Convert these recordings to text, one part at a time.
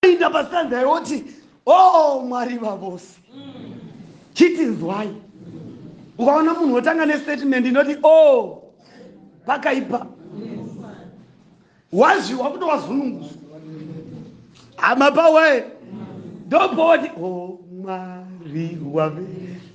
Inda pastanza yoti oh mwari vavose chitinzwai ukaona munhu wotanga nestatement inoti o oh, pakaipa wazviwa kutowazunungusa hama pawaye ndopoti o oh, mwari wave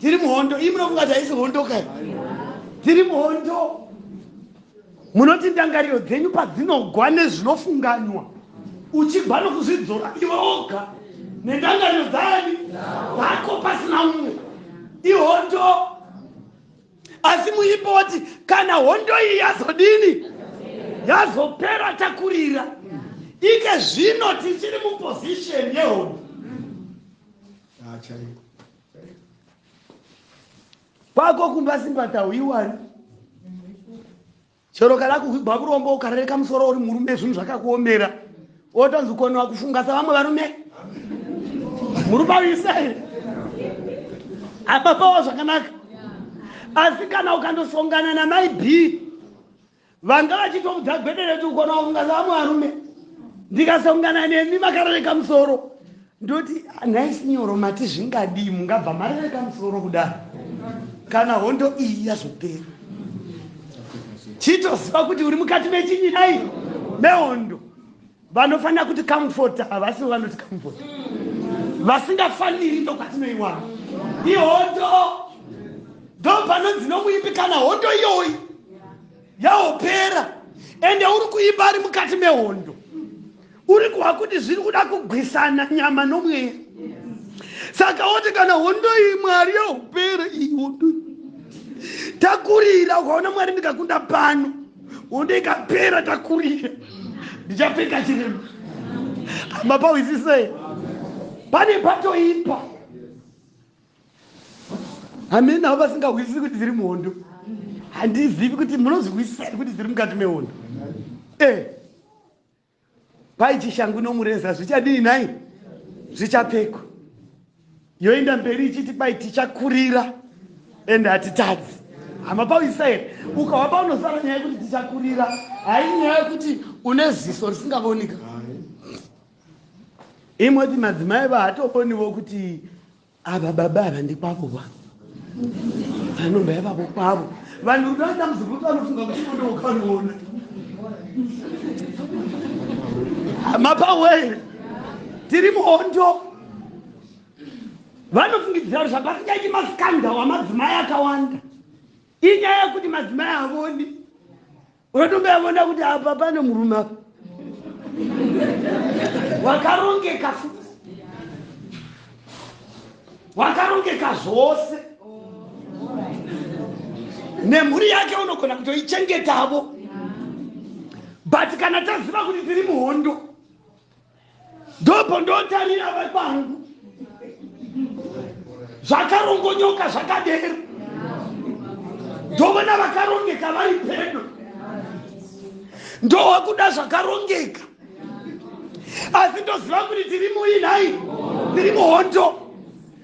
tiri muhondo iyi munofunga kuti haisi hondo kai tiri muhondo munoti ndangariro dzenyu padzinogwa nezvinofunganywa uchigwa nokuzvidzora iwe oga nendangariro dzani dzako pasina umwe ihondo asi muimbo woti kana hondo iyi yazodini yazopera takurira ike zvino tichiri muposisheni yehondo ah, kwako kumba simbata huiwani chero kana kuhwigwa kuromba ukarereka musoro uri murume zvinhu zvakakuomera otonzi koni wakufunga sa vamwe varume murume uisai apapawo zvakanaka asi kana ukandosongana namai b vanga vachitomudza gwedere kuti ukona kungana vamwe varume ndikasongana nemi makarereka musoro ndoti nhai sinyoro mati zvingadii mungabva marereka musoro kudaro kana hondo iyi yazopera chitoziva kuti uri mukati mechinyi dai mehondo vanofanira kuti comfort havasivo vanoti comfort vasingafaniri ndokwatinoiwana ihondo ndo panonzi nomuimbi kana hondo iyoyi yaopera ende uri kuimba ari mukati mehondo uri kuha kuti zviri kuda kugwisana nyama nomweya saka woti kana hondo iyi mwari yaopera iyi hondo takurira ukaona mwari ndikakunda pano Bonde ikapera takurira. Ndichapfeka chiremba. Mapauisisei. Pane patoipa. Amen avo vasingahwisisi kuti dziri muhondo. Handizivi kuti munozihwisisa kuti dziri mukati mehondo. Eh. Kwai chishangu nomureza zvichadii nhai? Zvichapfekwa. Yoenda mberi ichiti kwai tichakurira and hatitadzi. Hama pauyisa here? Ukava paunosara nyaya yekuti tichakurira hai nyaya yekuti une ziso risingavonika. Imoti madzimai vahatobonivo kuti ava baba ava ndekwavo wa vanomba yavavo kwavo vanhu rudo aita muzukuru vanofunga kuti mondo wakanoona mapawere tiri muhondo vanofungidzira kuti zvapasichaiti maskandal amadzimai akawanda inyaya yekuti madzimai havoni Unotobva yavona kuti apa pane murume apa. Wakarongeka futi. Wakarongeka zvose. Nemhuri yake unogona kutoichengetavo. But kana taziva kuti tiri muhondo. ndopo ndotarira vari pangu zvakarongonyoka zvakadero ndovona vakarongeka vari pedo ndowa kuda zvakarongeka asi ndoziva kuti tiri muinai tiri muhondo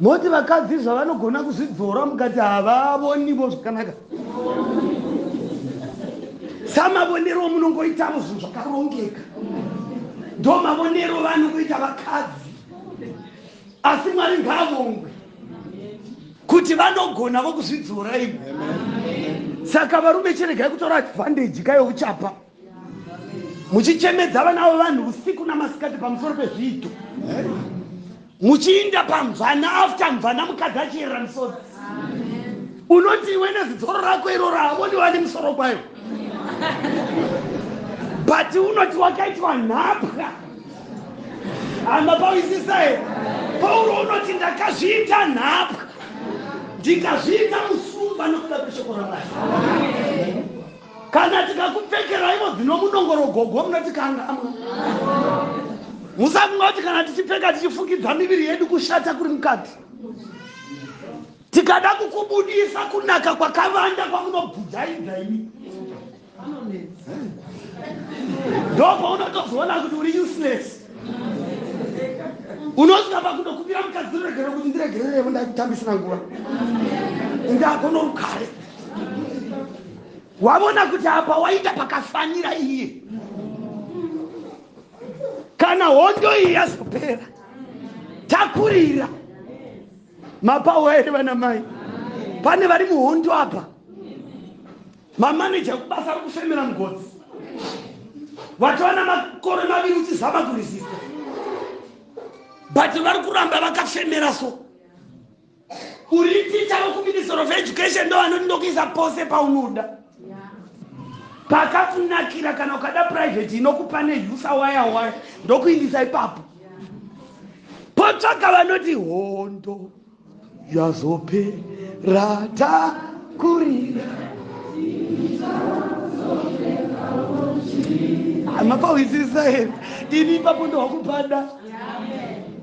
Moti vakadzi zvavanogona kuzvidzora mukati havavonivo zvakanaka. Samavonero munongoitavo zvinhu zvakarongeka. Ndo mavonero vanongoita vakadzi. Asi Mwari ngaavongwe kuti vanogona vokuzvidzora imi. Saka varume chiregai kutora advantage kayo uchapa. muchichemedza vana vevanhu usiku namasikati pamusoro pezviito muchiinda pamvana after mvana mukadzi achiyerera misodzi unoti iwe nezitsoro rako iroro havoni vane musoro kwayo but unoti wakaitwa nhapwa hama pawisisa here pauro unoti ndakazviita nhapwa ndikazviita musumba nokuda kweshoko ramwari Kana tikakupfekeraivo dzino munongoro gogo munoti kangamwa. Musafunga kuti kana tichipfeka tichifukidza miviri yedu kushata kuri mukati. Tikada kukubudisa kunaka kwakavanda kwamunobvujaidza imi. Ndopo unotozoona kuti uri useless. unosvika pakutokumbira mukadzi ndiregerere kuti ndiregererevo ndaikutambisina nguva ndagona rukare wavona kuti apa waita pakafanira iye kana hondo iyi yazopera takurira mapawo here vana mai pane vari muhondo apa Mamaneja kubasa ari kufemera mugodzi. Watova namakore maviri uchizama kuresista. But vari kuramba vakafemera so. Uri ticha wekuminister of education ndo vanoti ndokuisa pose paunoda. Pakakunakira kana ukada private inokupa nehusa waya waya ndokuindisa ipapo. Potsvaka vanoti hondo. zvazopera takurira mapauhwisisa here ini ipapo ndowakupada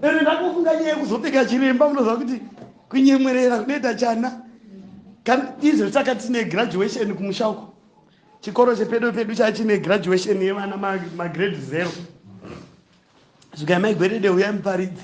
ere ndakufunga nyaya yekuzopeka chiremba unoziva kuti kunyemwerera kunoita chana izvo taka tine graduation kumusha uko chikoro chepedo pedu chaa chine graduation yevana magrade zero zvikai maigwerede huyai muparidzi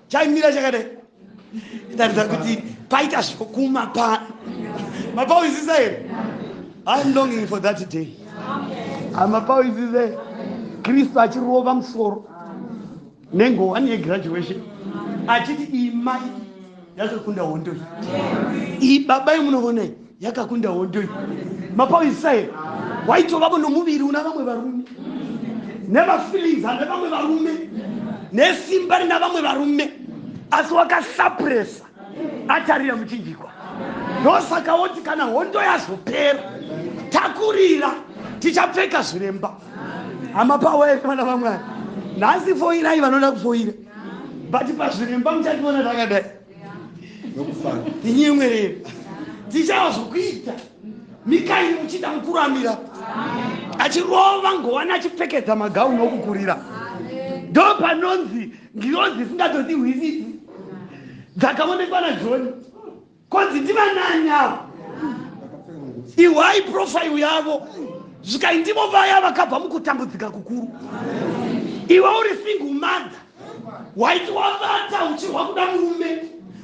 chaimira chakadai taridza kuti paita zvokuma pano mapauisisa here iam longing for that day amapauisisa here kristu achirova musoro nengowani yegraduation achiti imai yatokunda hondo iyi baba imunovonai yakakunda hondo iyi mapauisa here waitovavo nomuviri una vamwe varume nemafeelings ane vamwe varume nesimba rina vamwe varume asi wakasapuresa atarira muchinjikwa ndosaka woti kana hondo yazopera takurira tichapfeka zviremba hama pawaere vana vamwari nhasi foirai vanoda kufoira but pazviremba muchativona takadai nokufara tinyemwerera tichava zvokuita mikaini muchida mukuru amira achirova ngovani achipfekedza magauni okukurira ndo panonzi ngirozi isingatodi hwisisi dzakaonekwa najoni konzi ndivanani avo ihwai profairo yavo zvikai ndivo vaya vakabva mukutambudzika kukuru iwe uri single mother waiti wavata uchirwa kuda murume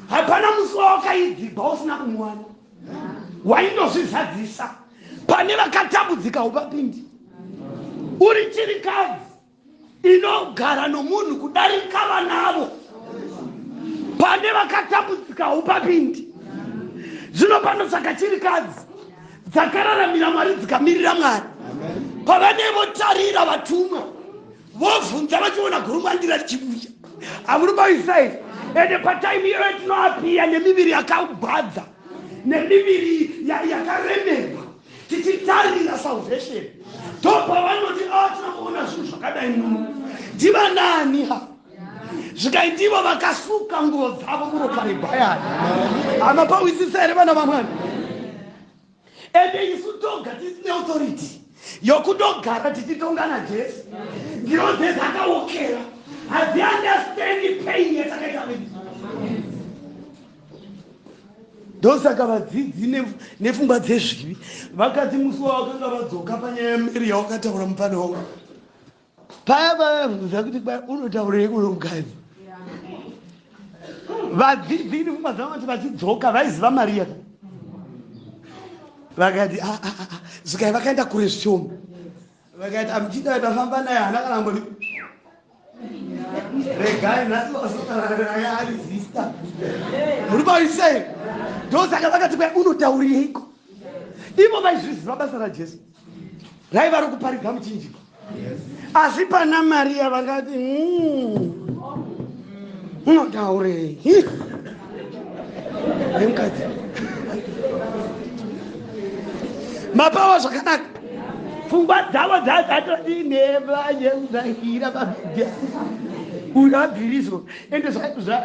hapana musi wawakaidhibha usina kumuwana waindozvizadzisa pane vakatambudzika upapindi uri chirikadzi inogara nomunhu kudarika vanavo pane vakatambudzika upapindi zvino pano saka chirikadzi dzakararamira mwari dzikamirira mwari pavanevotarira vatumwa vobvunza vachiona gurumwandira richibuda amuribaisa izvi ende pataimi iyoyo tinoapiya nemiviri yakagwadza nemiviri yakaremerwa tichitarira salvation ndopavanoti a ah, tinokuona zvinhu zvakadai muno ndivanani ha zvikaitivo vakasuka nguvo dzavo muropa rebayani hama pawisisa here vana vamwani ende isu toga tisine authority yokutogara tichitonga najesu ndiro dzezakaokera hadziandastandi pain yatakaita vedu ndosaka vadzidzi nepfungwa dzezvivi vakadzi musi wavakanga vadzoka panyaya yameri yawakataura mupfana wangu paya vavabvunza kuti kwai unotaurei uno mukadzi vadzidzi ini pfungwa dzavo vati vachidzoka vaiziva mari yaka vakati ah, ah, ah, zikai vakaenda kure zvishoma vakati amuchinda vatafamba naye hana kana mboni regai nhasi vasotauraaari zista muri paisei ndosaka vakati kwai unotaurireiko ivo vaizviziva basa rajesu raiva rokuparidza muchinjiko asi pana mariya vakati hmm, unotaurei nemukadzi mapawa zvakanaka pfungwa dzavo dzadzatoti nevayeuzaira pabhidhia uyu abviriso ende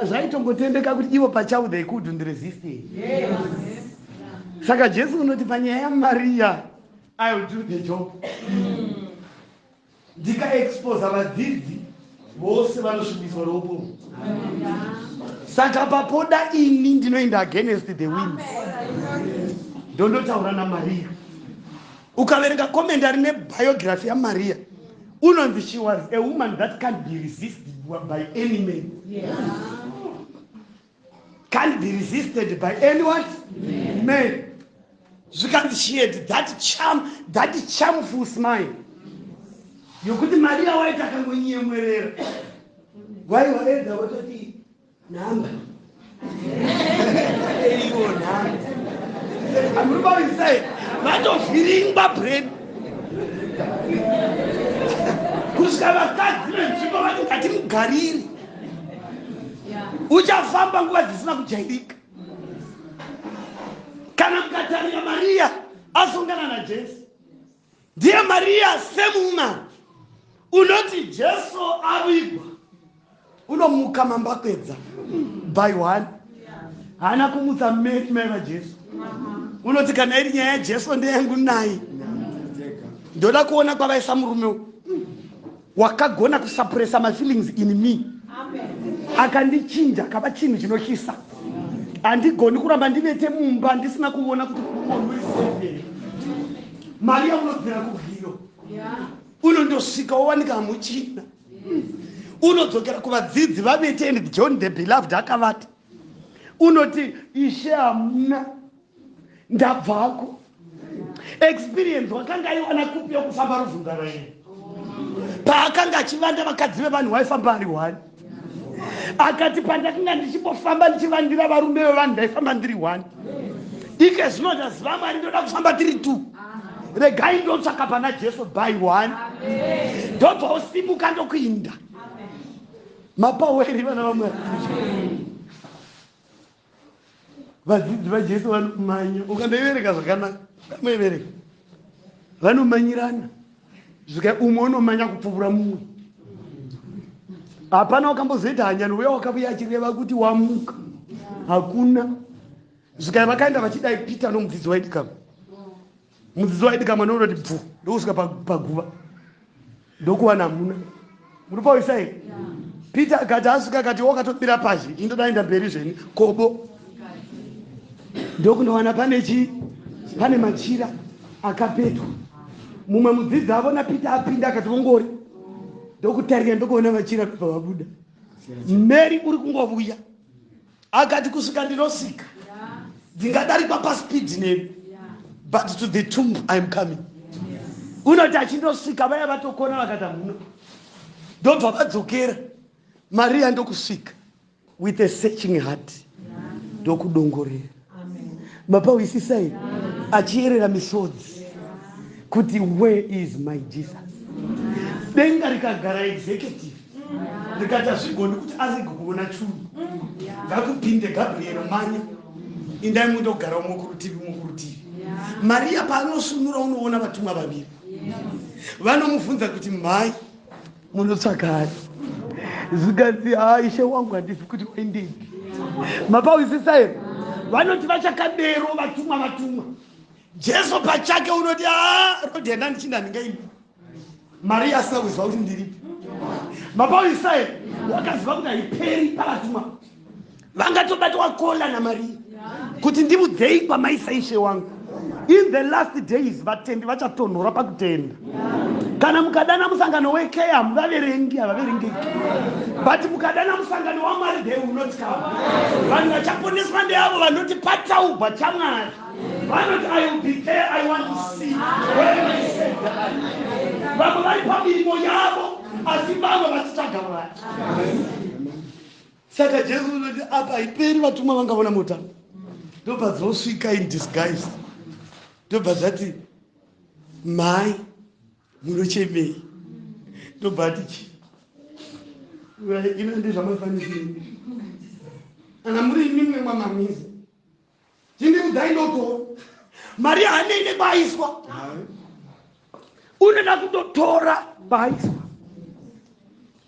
zvaitongotendeka kuti ivo pachavo they couldn't resist yes. saka jesu unoti panyaya yamariya ill do the job ndikaexposa vadzidzi vose vanosvibiswa roupomu saka papoda ini ndinoenda against the wind ndondotaura namariya ukaverenga comment ari nebiography yamariya unonzi she was a woman that can't be resisted by any man yeah. can't be resisted by anyone yeah. man zvikanzi she had that charm that charmful smile yokuti maria waiti akangonyemwerera waiwaedza watoti nhamba eiwo nhamba amuribarisai vatovhiringwa breni kusvika vakadzi venzvimbo vati ngatimugariri uchafamba nguva dzisina kujairika kana mukatarira mariya asongana najesu ndiye mariya semumani unoti jesu avigwa unomuka mambakwedza by one haana kumutsa mmeri mai vajesu unoti kana iri nyaya yajesu ndeyangu nai ndoda kuona kwavaisa murume Wakagona kusapuresa mafeelings in me akandichinja akava chinhu chinotyisa. Handigoni kuramba ndivete mumba ndisina kuona kuti kumunhu uri safe here. Maria unobvira kubwiro unondosvika wowanika hamuchina unodzokera kuvadzidzi vavete and John the beloved akavata unoti ishe hamuna ndabvako experience wakanga aiwana kupi yokufamba ruvhunga rwaini paakanga achivanda vakadzi vevanhu waifamba ari one akati pandakanga ndichibofamba ndichivandira varume vevanhu ndaifamba ndiri one ike zvino ndaziva mwari ndoda kufamba tiri two regai ndotsvaka pana jesu by one ndobva usimuka ndokuinda mapaweri vana vamwari vadzidzi vajesu vanomanya ukandaivereka zvakanaka kamaivereka vanomanyirana zvika umwe unomanya kupfuvura mumwe hapana wakambozoita hanyani uya wakavuya achireva kuti wamuka hakuna zvikai vakaenda vachidai peter nomudzidzi waidikama mudzidzo waidika mwana unoti bvu ndokusvika paguva ndokuwana hamuna muri pauyisa here peter akati asvika akati wakatomira pazhi indodaenda mberi zveni kobo ndokundowana pane chii pane machira akapetwa mumwe mudzidzi avo napeter apinda akati vongori ndokutarira ndokuona machira kubva vabuda mary uri kungovuya akati kusvika ndinosvika ndingadarikwa paspeed nemi but to the tomb iam coming unoti achindosvika vaya vatokona vakata muno ndobva vadzokera mariya ndokusvika with a searching heart ndokudongorera mapahwisisa here achiyerera misodzi kuti where is my jesus denga rikagara executive rikati hazvigoni kuti arege kuona chunhu ngakupinde gabriel manya indai mundogara umwe kurutivi umwe kurutivi mariya paanosunura unoona vatumwa vaviri vanomubvunza kuti mhai munotsvagani zvikanzi haa ishe wangu handizi kuti waindipi mapawisisa here vanoti vachakadero vatumwa vatumwa jesu pachake unoti haa rodi henda ndichinda ndingaimi mariya asina kuziva kuti ndiripi mapawisisa here wakaziva kuti haiperi pavatumwa vangatobatwa kola namariya kuti ndiudzei kwamaisa ishe wangu in the last days vatendi vachatonhora pakutenda kana mukadana musangano wekea hamuvaverengi havaverengeki but mukadana musangano wamwari they will not come vanhu vachaponeswa ndeavo vanoti pataubwa chamwari vanoti i will be there i want to see vamwe vari pamirimo yavo asi vamwe vasitsvaga mwari saka jesu unoti apa haiperi vatumwa vangavona mota ndobva dzosvika in disguise ndobva zvati mhai munochemei ndobva ati chi ino ndezvamaifanisi ana muri imimwe mwamamizi chindiudzai ndotora mari hanei nekwaiswa unoda kutotora kwaiswa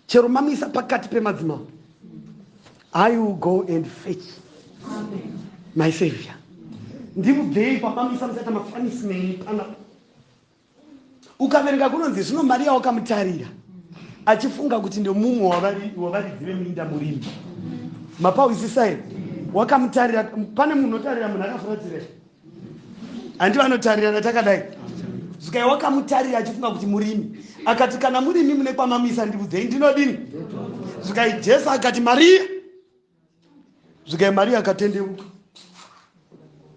chero mamisa pakati pemadzimambo i will go and fetch my savior ndimubvei pamamisa musaita mafanisi nei panapa ukaverenga kunonzi zvino mari yawakamutarira achifunga kuti ndomumwe wavaridzi veminda murimi mapawisisai wakamutarira pane munhu otarira munhu akafuratira handi vanotarirana takadai zvikai wakamutarira achifunga kuti murimi akati kana murimi mune kwamamisa ndiudzei ndinodini zvikai jesu akati mariya zvikai mari yakatendeuka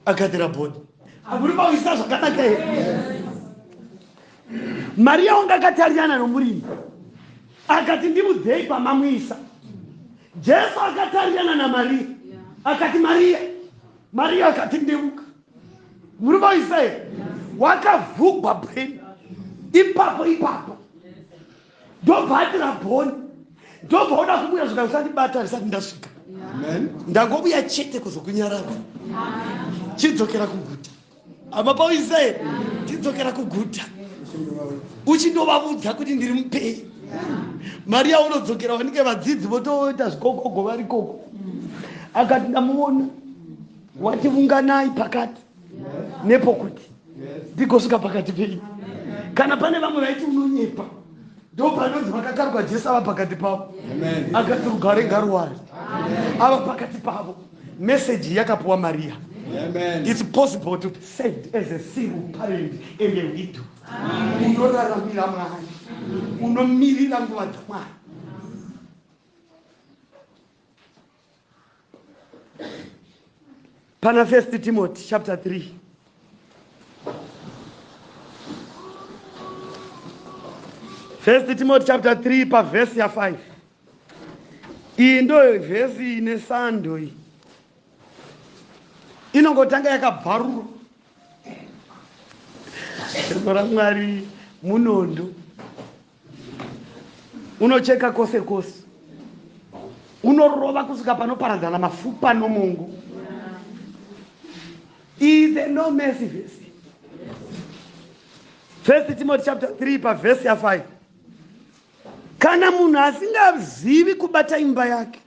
akatira bodi akuri pakuisa zvakanaka here mari yaunga akatarirana nomurimi akati ndimudzei pamamuisa jesu akatarirana namariya akati mariya mariya akati ndeuka muri vaisa here wakavhugwa brain ipapo ipapo ndobva ati rabhoni ndobva oda kumuya zvika usandibata risati ndasvika ndangobuya chete kuzokunyarava chidzokera kuguta ama pauisraeri tidzokera kuguta uchindovavudza kuti ndiri mupei mari yaunodzokera vanenge vadzidzi votoita zvikokogo vari koko akati ndamuona wati vunganai pakati nepokuti ndigosvika pakati penyu kana pane vamwe vaiti unonyepa ndo panonzi vakakarwa jesu ava pakati pavo akati rugare ngaruwari ava pakati pavo meseji yakapuwa mariya its possible to be saved as a single parent and a widow unoraramira mwari unomirira nguva dzamwari pana first timothy chapter 3 first timothy chapter 3 pavhesi ya 5 iyi ndo vhesi ine sando iyi inongotanga yakabvarurwa zano ramwari munondo unocheka kose kose unorova kusvika panoparadzana mafupa nomongo is a no mercy verse first timothy chapter 3 pavhesi ya 5 kana munhu asingazivi kubata imba yake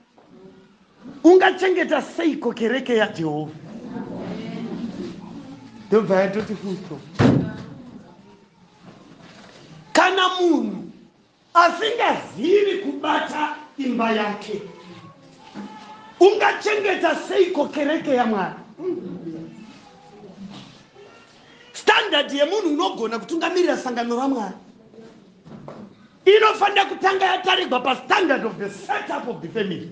Ungachengeta seiko kereke yaJehovha? Ndobva yatoti fusto. Kana munhu asingazivi kubata imba yake, ungachengeta seiko kereke yaMwari? Standard yemunhu unogona kutungamirira sangano raMwari. inofanira kutanga yatarirwa pastandard of the setup of the family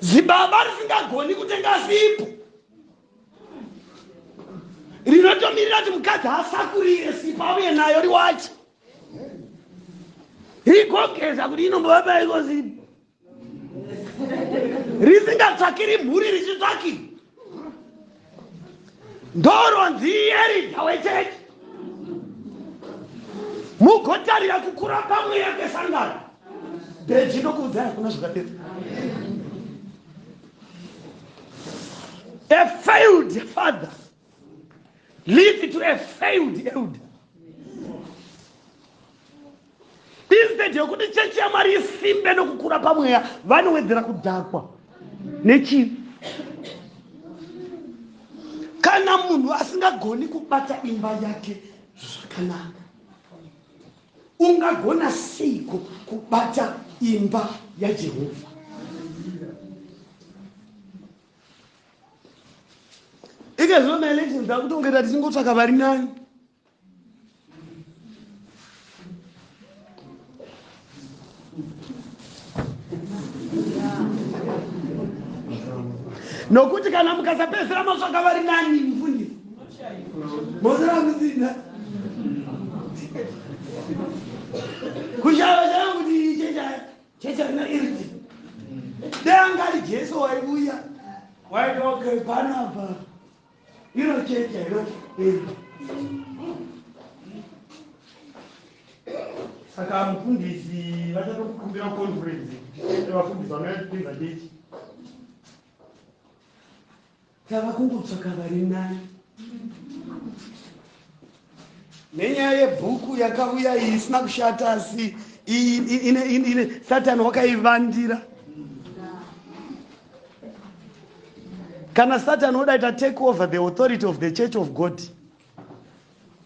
zibaba risingagoni kutenga sipo rinotomirira kuti mukadzi asakurire sipo auye nayo riwache rigogeza kuti inombovabaikozii risingatsvakiri mhuri richitsvaki ndoronzi ierida wechechi mugotarira kukura pamweya kwesangano beji ndokuudzai hakuna zvakadero a failed father leave to a failed elder instead yokuti chechi yamwari isimbe nokukura pamweya vanowedzera kudhakwa nechii kana munhu asingagoni kubata imba yake zvakanaka ungagona seiko kubata imba yajehovha ika zvino maelections akutongeta tichingotsvaka vari nani nokuti kana mukasapedzera matsvaka vari nani mufundisi mozera kusina kushava chana kuti iche chaya chechi haina iriti dai anga ari jesu waivuya waitoke panapa iro chechi hairo iriti saka mufundisi vachatokukumbira conference kuti vafundisi vanoyatipinza chechi Tava kungotsvaka vari nani. Nenyaya yebhuku yakauya iyi isina kushata asi ine satani wakaivandira. Kana satani oda ita take over the authority of the church of God.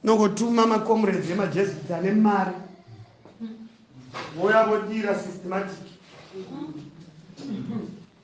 Nongotuma macomrades emajesuits ane mari. Voya vodira systematic.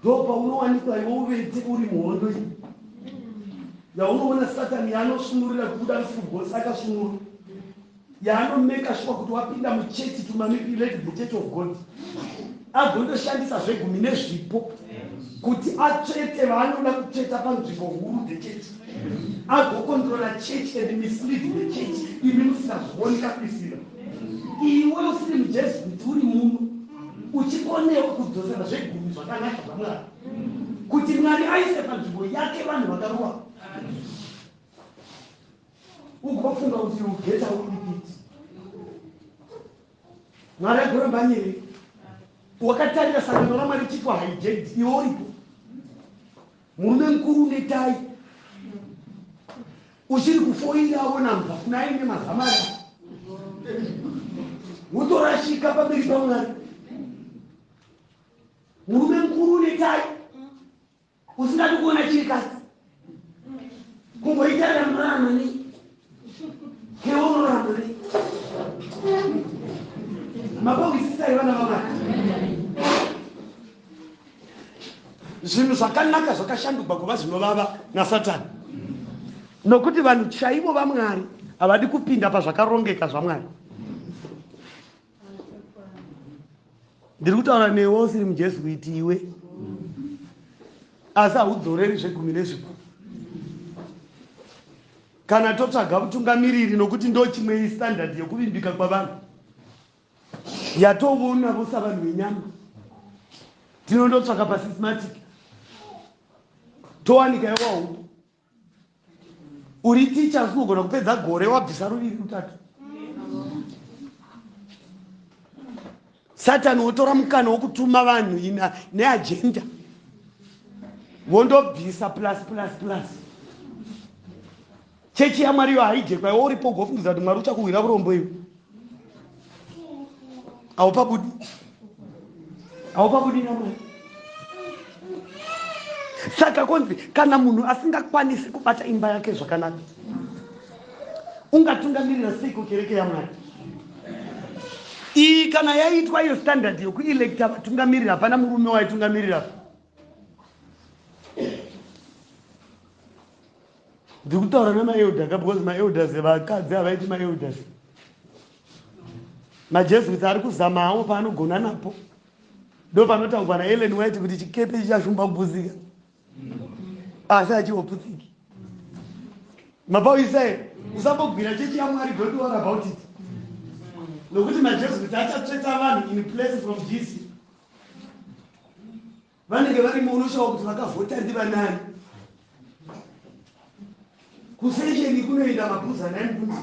ndopaunowanikwa iwe uvete uri muhondo iyi yaunoona satani yaanosvunurira kubuda mufugos akasvunura yaanomeka shuwa kuti wapinda muchechi tumanipulate the church of god agondoshandisa zvegumi nezvipo kuti atsvete vaanoda kutsveta panzvimbo huru the church agokontrola church and mislead the church imi musingazvioni kapisira iwe usiri mujesu kuti uri muno uchikonewa kudzosera zvegumi zvakanaka zvamwari kuti mwari aise panzvimbo yake vanhu vakarowa ugofunga kuti ugeta uripiti mwari agoramba nyere wakatarira sangano ramwari chiko haijedi iwe uripo murume mukuru unetai Uchiri kufoira awona mnhu afuna aine mazama aya. Wotorashika pamberi paMwari. Murume mukuru une tai. Usingadi kuona chiri kasi. Kungoita ramurama nei. Keonorama nei. Mabongisisa ivana vamwari. zvinhu zvakanaka zvakashandugwa kuva zvinovava nasatani nokuti vanhu chaivo vamwari havadi kupinda pazvakarongeka zvamwari ndiri kutaura newe usiri mujesu kuiti iwe asi haudzoreri zvegumi nezvipo kana totsvaga utungamiriri nokuti ndochimwe istandard yekuvimbika kwavanhu yatovonavo savanhu venyama tinondotsvaka pasismatic towanika yewaupo uri ticha asi unogona kupedza gore wabvisa ruviri rutatu satani wotora mukana wokutuma vanhu ina neagenda wondobvisa plus plus plus Chechi yaMwari iyo haijekwa iwe uripo ugofungidzira kuti Mwari uchakuhwira urombo iwe. Haupabudi. Haupabudi naMwari. Saka konzi kana munhu asingakwanisi kubata imba yake zvakanaka ungatungamirira seiko kereke yaMwari? iyi kana yaitwa iyo standard yokuelecta vatungamiriri hapana murume waitungamirira ndiri kutaura nemaelder ka because maelders vakadzi havaiti maelders majesuits ari kuzamawo paanogona napo ndo panotaurwa naellen white kuti chikepe chichashumba kupusika asi achihopusiki mapauyisa here usambogwira chechi yamwari don't worry about it nokuti majesuits achatsvetsa vanhu in place from jisi Vanenge varimo unoshaiwa kuti vakavhota ndivanani. Kusesheni kunoenda mabhuza nani kune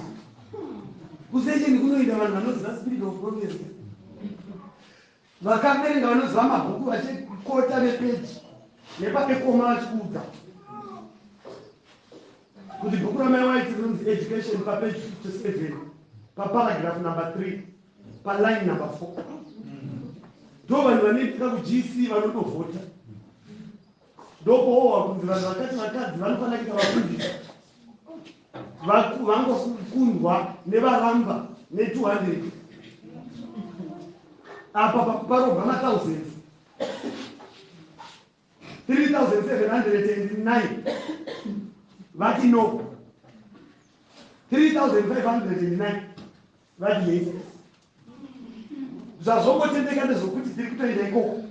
kusesheni kunoenda vanhu vanoziva spirit of prophecy vakaverenga vanoziva mabhuku vachikota nepeji nepapekoma vachikuudza kuti bhuku ramai waiti rinonzi education papeji 57 paparagraph number 3 paline number four ndo vanhu vanoitika kugc vanotovhota ndokoowa kunzi vanhu vakati vakadzi vanofanira kuita vafundisi vangokundwa nevaramba ne200 apa pakuparobva mathousand 3709 vati no 3509 vadiei zvazvongotendeka ndezvokuti tiri kutoenda ikoko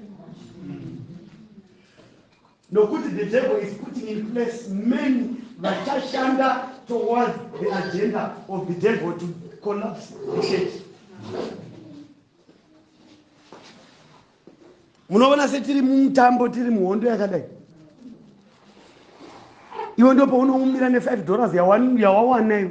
nokuti the devil is putting in place many vachashanda towards the agenda of the devil to collapse the church munoona setiri mumutambo tiri muhondo yakadai iwe ndo paunoumira ne5 dollars yawawanayo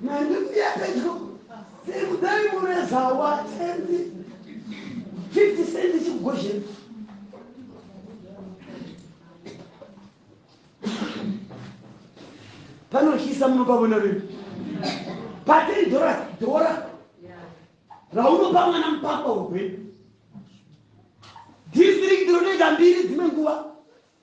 Mandikuya pedyo. Sekudai mureza watendi. 50 cent chikugozheni. Panohyisa munopavona rino. Patei dhora dhora. Raunopa mwana mupapa wegwenu. District rinoita mbiri dzimwe nguva.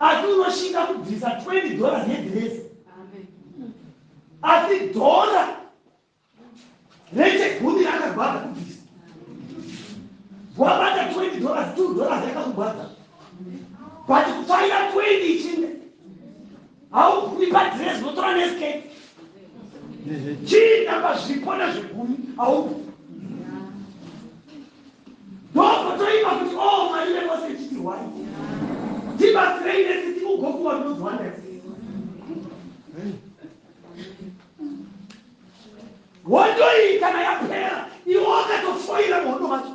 asi unoshinga kubvisa 20 dollars yedhirezi asi dhora rechegumi rakagwadza kubvisa wabata 20 dollars 2 dollars yakakugwadza but kufarira 20 ichinde haugumi padhirezi unotora nesketi chiita pazvipo nezvegumi haugumi ndokotoiva kuti o oh, mwari vekose chitirwai tibatsirei nesi tikugokuwa ndonzwa nesi hondo iyi kana yapera iwo akatofoira muhondo macho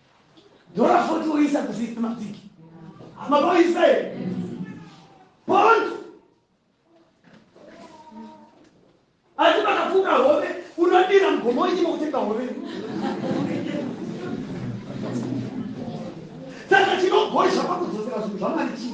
Dora 40 woisa kuzii mabviki. Maboisa here? Bond. Asi pakafuka hove unodira mugomo ichimo kutenga hove. Saka chinogozha pakudzosera zvinhu zvamari chii?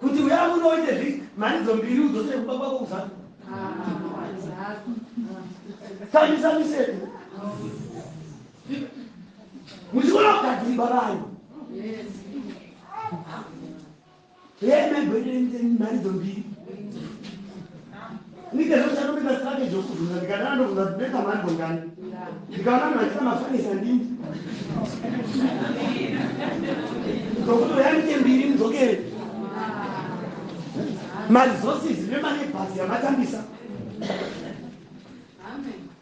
kuti uya muno uite zvi mharidzo mbiri udzosere kumba kwako kuzanu tamisa miseko muchikona kugadzirigwa vanhu yemegwendereite mharidzo mbiri Nika zvangu chakupinda strategy yokubvunza ndikadana ndobvunza kuti beka mhando ngani ndikaona munhu achita mafanisa ndini ndokuti uyanike mbiri mudzokere maresources nemane bhasi yamatambisa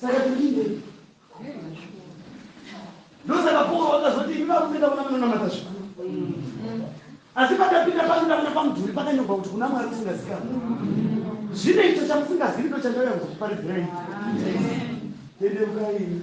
saka tiriinde ndosaka pauro vakazoti imi varume ndavona munonamata zvikuru asi patapinda pano ndavona pamudhuri pakanyorwa kuti kuna mwari usingazikana zvino icho chamusingazivi ndo chandauya kuzokuparidzirai tendeukaimi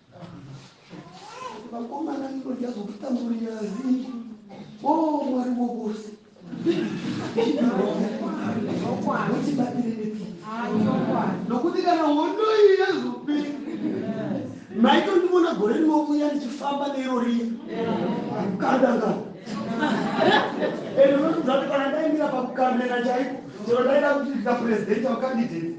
vakomana ino ndazokutamburirai o mwari wovose votibatire nepi nokuti kana hondo iyi yazopera maitondiona gore rinovuya ndichifamba neiro riya kukandanga ende unotidzati kana ndaimira pakukamera chaiko chero ndaida kuti ndika purezidenti vakandideti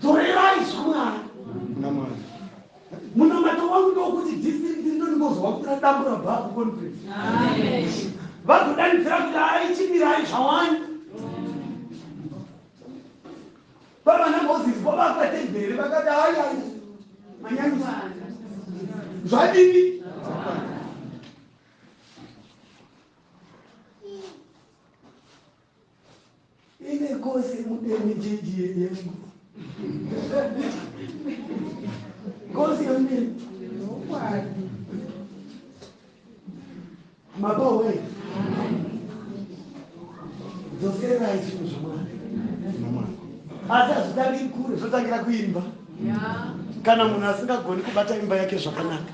dzorerai zvamwari kuna mwari munamato wangu ndokuti district rino ndingozowa kuti radambura babu conference vazodanidzira kuti aichimirai zvawani vavana moses vo vakatendere vakati ayai manyanyisa zvadini ine kosi mudeni jeji yengu kosi yomdeni nokwadi mabowe dzoserai zvinhu zvamwana asi hazvitangi kure zvotangira kuimba kana munhu asingagoni kubata imba yake zvakanaka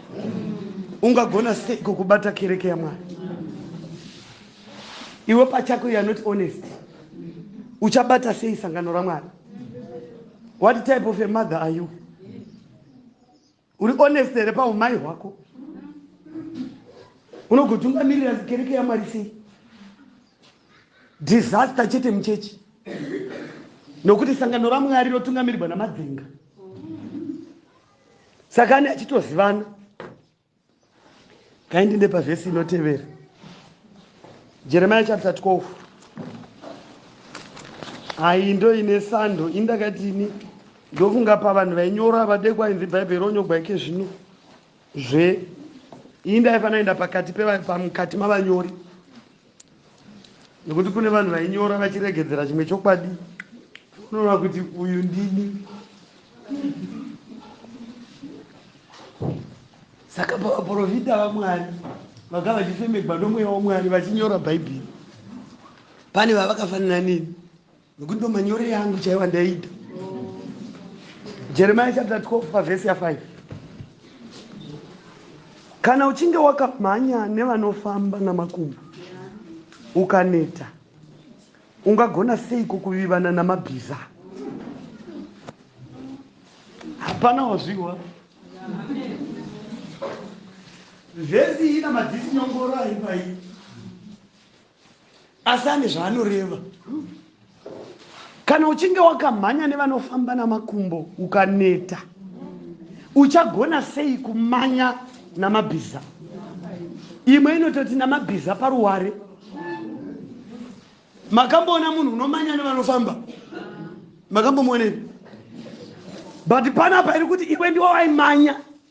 ungagona seiko kubata kereke yamwari iwe pachako you're not honest uchabata sei sangano ramwari what type of a mother are you uri honest here paumai hwako unogotungamirira kereke yamwari sei disaster chete muchechi nokuti sangano ramwari rotungamirirwa namadzinga saka ane achitozivana kaindi ndepa vhesi inotevera jeremiya chapter 12 ayi ndo ine sando indakati ini ndofunga pavanhu vainyora vadekwa inzi bhaibheri ronyogwa ike zvino zve iyi ndaifanira enda pakati pamukati mavanyori nekuti kune vanhu vainyora vachiregedzera chimwe chokwadi unoona kuti uyu ndini saka pavaprofita vamwari vaka vachifemegwa nomweya wamwari vachinyora bhaibheri pane vavakafanira nini nokuti ndo manyorere angu chaiwa ndaida jeremiya chapter 12 pavhesi ya 5 kana uchinge wakamhanya nevanofamba namakumbo ukaneta ungagona seiko kuvivana namabhiza hapana wazviwa vhesi ina madzisi nyongoro aipai asi ane zvaanoreva kana uchinge wakamhanya nevanofamba namakumbo ukaneta uchagona sei kumanya namabhiza imwe inototi namabhiza paruware makamboona munhu unomanya nevanofamba makambomuonei but panapa iri kuti iwe ndiwo waimanya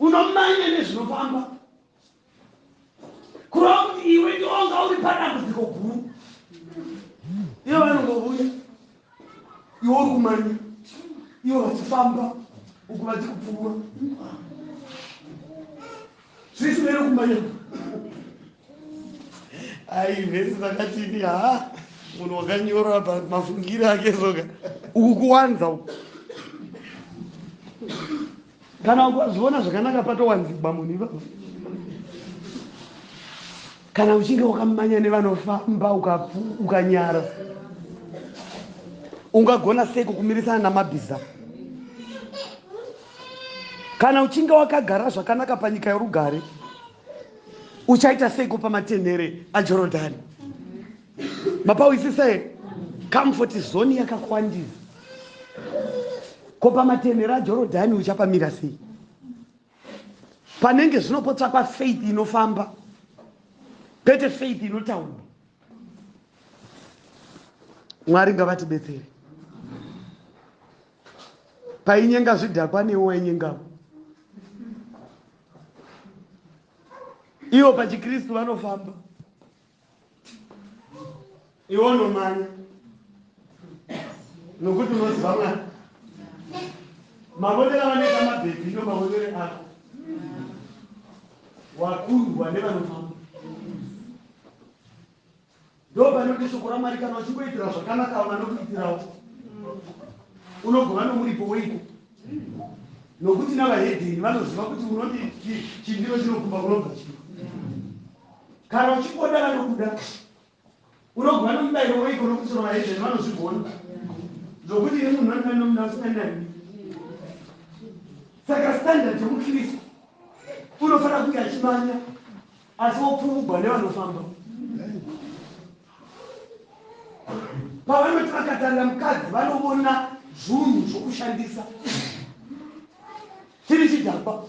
unomanya nezvinofamba kurova kuti iwe ndionga uri padambudziko guru ivo vanongovuya iwe uri kumanya ivo vachifamba uku vachikupfuura zvisi vere kumanya ai vhesi dzakatini ha munhu wakanyora pamafungiro ake soka uku kuwanza uku kana ukazviona zvakanaka patowanzigwa munhu ivavo kana uchinge wakamanya nevanofamba ukanyara uka ungagona sei kukumirisana namabhiza kana uchinge wakagara zvakanaka panyika yorugare uchaita seiko pamatenhere ajorodhani mapawisisa here comfort zone yakakwandira ko pamatenhero ajorodhani uchapamira sei panenge zvino potsvakwa faith inofamba kwete faith inotaura mwari ngavatibetsere painyenga zvidhakwa newo wainyengavo ivo pachikristu vanofamba iwo nomanya nokuti unoziva mwana mavonero avanoita mabhebhi ndo mavonero ako wakundwa nevanomama ndo panoti shoko ramwari kana uchingoitira zvakanaka avo vanokuitirawo unogova nomuripo weiko nokuti navahedheni vanoziva kuti unoti chindiro chinokumba kunobva chii kana uchikoda vanokuda unogwa nomubairo weiko nokutsoro vaizveni vanozvigona zvokuti ini munhu vandina nomuda usinganani saka standard yomukristu unofanira kunge achimanya asi wopfumugwa nevanofamba pavanoti vakatarira mukadzi vanovona zvunhu zvokushandisa chiri chidhakwa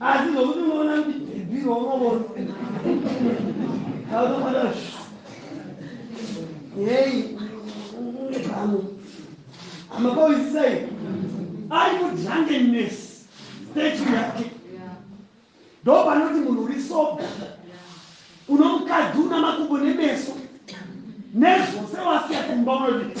asi zvokuti unoona kuti bhibhiro unovona aunoona hei pano amakoisisai ari kudrangeness stage yake ndo panoti munhu uri soba uno mukadzi una makumbo nemeso nezvose wasiya kumba unoti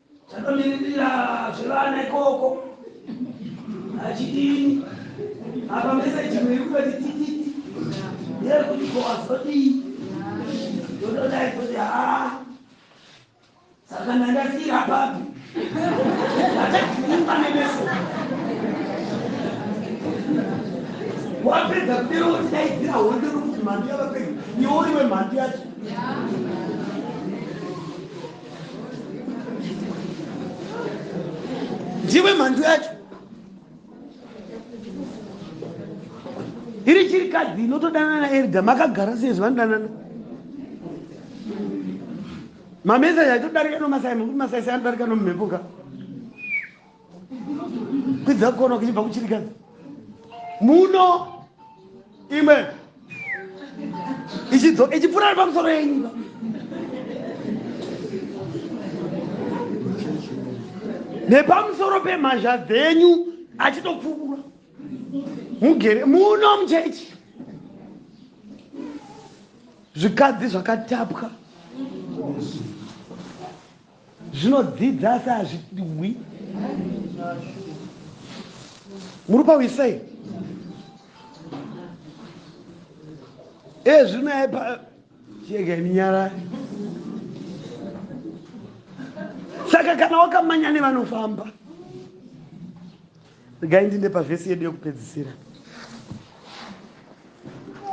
Tanomiririra zvevana ikoko achidini apa meseji imwe iri kutoti tititi neyekuti ko azodii ndododai kuti haa saka ndandasiira papi achaimba nemeso wapedza kudero wotidaidzira hondo rokuti mhandu yavapedza iwo iwe mhandu yacho ndiwe mhandu yacho iri chiri kadzi inotodanana naerda makagara sei zvivanodanana mamesaji aitodarika nomasai mekuti masai sai anodarika nomumhepo ka kwidza kukona kuchibva kuchirikadzi muno imwe ichipfuura ari pamusoro yenyika nepamusoro pemhazha dzenyu achitopfuura mugere muno muchechi zvikadzi zvakatapwa Zvinodzidza asi hazvidwi. Muri pawisa here? Ezvino eh, yaipa chega minyara. Saka kana wakamanya nevanofamba. Regai ndinde pavhesi yedu yekupedzisira.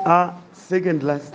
Ah, second last.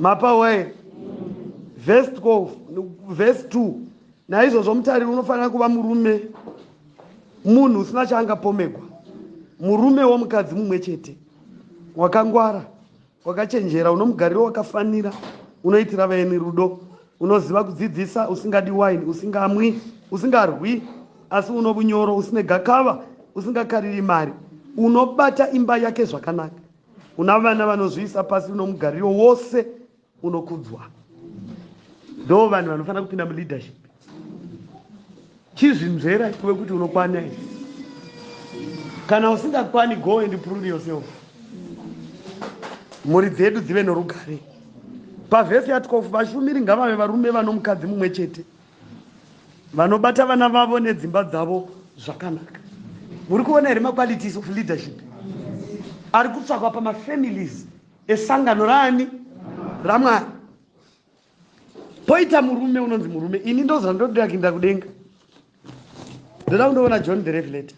mapawa here vhesi 12 vhesi 2 naizvozvo mutariri unofanira kuva murume munhu usina chaangapomegwa murume womukadzi mumwe chete wakangwara wakachenjera unomugariro wakafanira unoitira vaeni rudo unoziva kudzidzisa usingadi waini usingamwi usingarwi asi uno vunyoro usine gakava usingakariri mari unobata imba yake zvakanaka Kuna vana vanozviisa pasi nomugariro wose unokudzwa, ndo vanhu vanofanira kupinda muleadership. Chizvinzvera iwe kuti unokwana here. Kana usingakwani, go and prove yourself. Mhuri dzedu dzive norugare. Pavhesi ya 12 vashumiri ngavave varume vanomukadzi mumwe chete. vanobata vana vavo nedzimba dzavo zvakanaka muri kuona here maqualities of leadership ari kutsvakwa pamafamilies esangano raani ramwari poita murume unonzi murume ini ndoziva ndoda kuinda kudenga ndoda kundoona john the revelator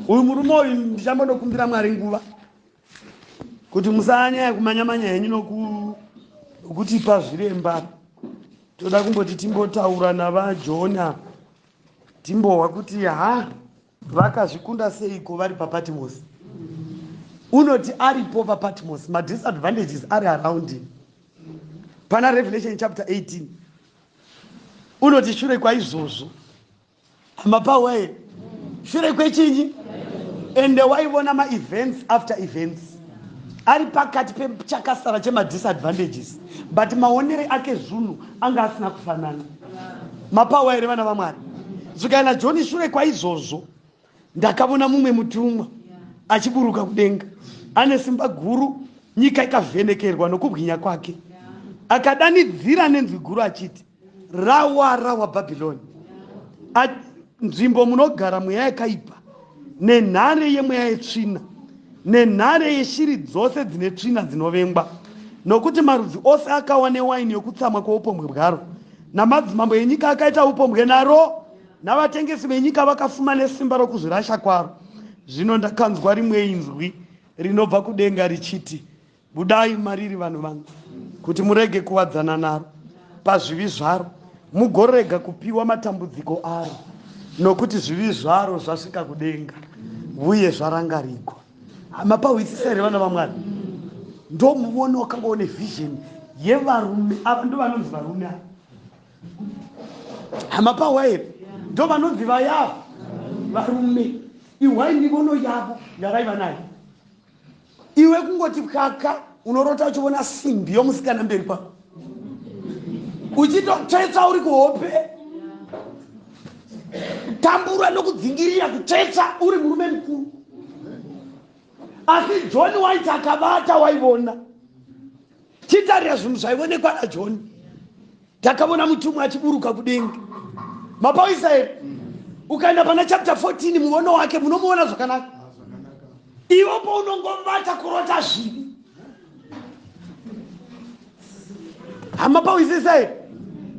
uyu murume uyu ndichambonokumbira mwari nguva kuti musanyaya kumanya manya henyu nokutipa zviremba toda kumboti timbotaura navajona timbohwa kuti ha vakazvikunda seiko vari papatmos unoti aripo papatmos madisadvantages ari around him pana revelation chapter 18 unoti shure kwaizvozvo amapawee shure kwechinyi ende waivona maevents after events ari pakati pechakasara chemadisadvantages but maonere ake zvunhu anga asina kufanana mapawa here vana vamwari zvikaina joni shure kwaizvozvo ndakavona mumwe mutumwa achiburuka kudenga ane simba guru nyika ikavhenekerwa nokubwinya kwake akadanidzira nenzwi guru achiti rawa rawa bhabhiloni nzvimbo munogara mweya yakaipa nenhare yemweya yetsvina nenhare yeshiri dzose dzine tsvina dzinovengwa nokuti marudzi ose akawa newaini yokutsamwa kwoupombwe bwaro namadzimambo enyika akaita upombwe naro navatengesi venyika vakafuma nesimba rokuzvirasha kwaro. Zvino ndakanzwa rimwe inzwi rinobva kudenga richiti, Budai mariri vanhu vangu, kuti murege kuwadzana naro pazvivi zvaro, mugorega kupiwa matambudziko aro, nokuti zvivi zvaro zvasvika kudenga, uye zvarangarigwa. Hama pahwisisa here vana vaMwari? Ndomuona wakanga une vision yevarume ava, ndovanonzi varume ava hamapawa here ndo vanonzi vayavo varume ihwai mivono yavo yavaiva nayo iwe kungoti kaka unorota uchivona simbi yomusikana mberi kwako uchitotsvetsa uri kuhope tambura nokudzingirira kutsvetsa uri murume mukuru asi john waiti akabata waivona titarira zvinhu zvaionekwa najoni takavona mutumwa achiburuka kudenga mapaisa here ukaenda pana chapter 14 muono wake munomuona zvakanaka iwo paunongobata kurota zvivi hama pawisisa here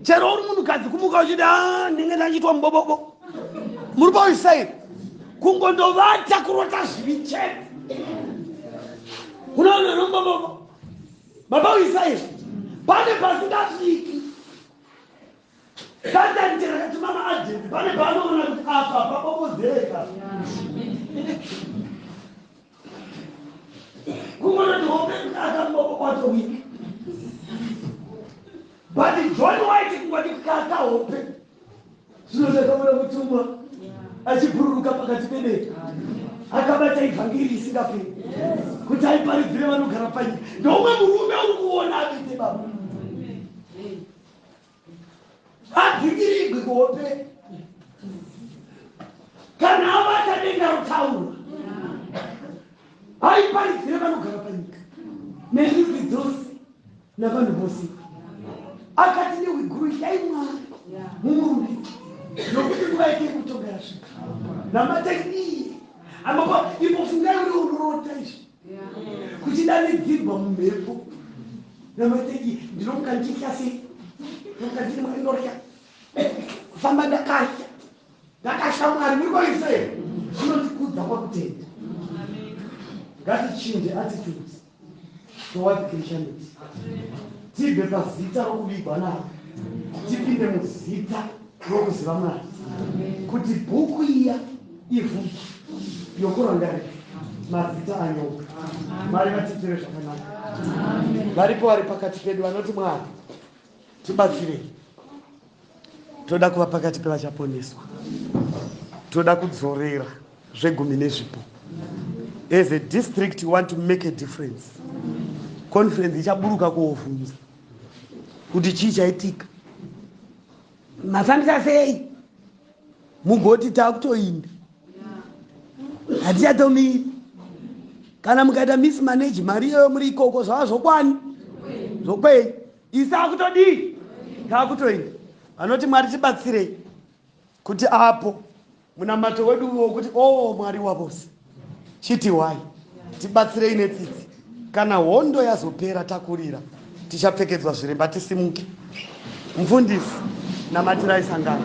chero uri munhukadzi kumuka uchiti a ah, ndinge ndachiitwa mubobobo muri pawisisa here kungondovata kurota zvivi chete unoona nombomomo baba uisa izvi pane pasingasviki satani chero kati mama ajenti pane paanoona kuti apa papopozeka kungonoti hope kuti akambopo kwacho wiki but john white kungoti kaka hope zvino takaona mutumwa achibhururuka pakati pedete akabata ivhangeri isingaperi kuti aiparidzire vanogara panyika ndoumwe murume uri kuona aite baba abvingirigwi kuhope kana abata denga rotaura aiparidzire vanogara panyika nezvizidzosi navanhu vose akati nehwigurushai mwari mumurume nokuti nguva yake yekutonga yasvika namatai iye amapa ipo fungai uri unorota izvi kuchidanidzirwa mumhepo namatai iye ndinomuka ndichitya sei nokuka ndiri mwari ndorya kufamba ndakatya ndakatya mwari muri kwaise zvinondikudza kwakutenda ngatichinje attitudes towadi christianity tibve pazita rokuvigwa naro tipinde muzita rokuziva mwari kuti bhuku iya ivhu yokurangarira mazita anyoka mari vatiitire zvakanaka varipo vari pakati pedu vanoti mwari tibatsirei toda kuva pakati pevachaponeswa toda kudzorera zvegumi nezvipo as a district you want to make a difference conference ichaburuka koovhunza kuti chii chaitika mafambisa sei mugoti takutoinda hatichatomiri kana mukaita miss manage mari iyoyo muri ikoko zvava zvokwani zvokwenyu Isa akutodii? Ngaakutoenda. Vanoti Mwari tibatsirei kuti apo munamato wedu uve wekuti o oh, Mwari wavose chiti wai tibatsirei netsitsi kana hondo yazopera takurira tichapfekedzwa zviremba tisimuke mfundisi namatirai sangano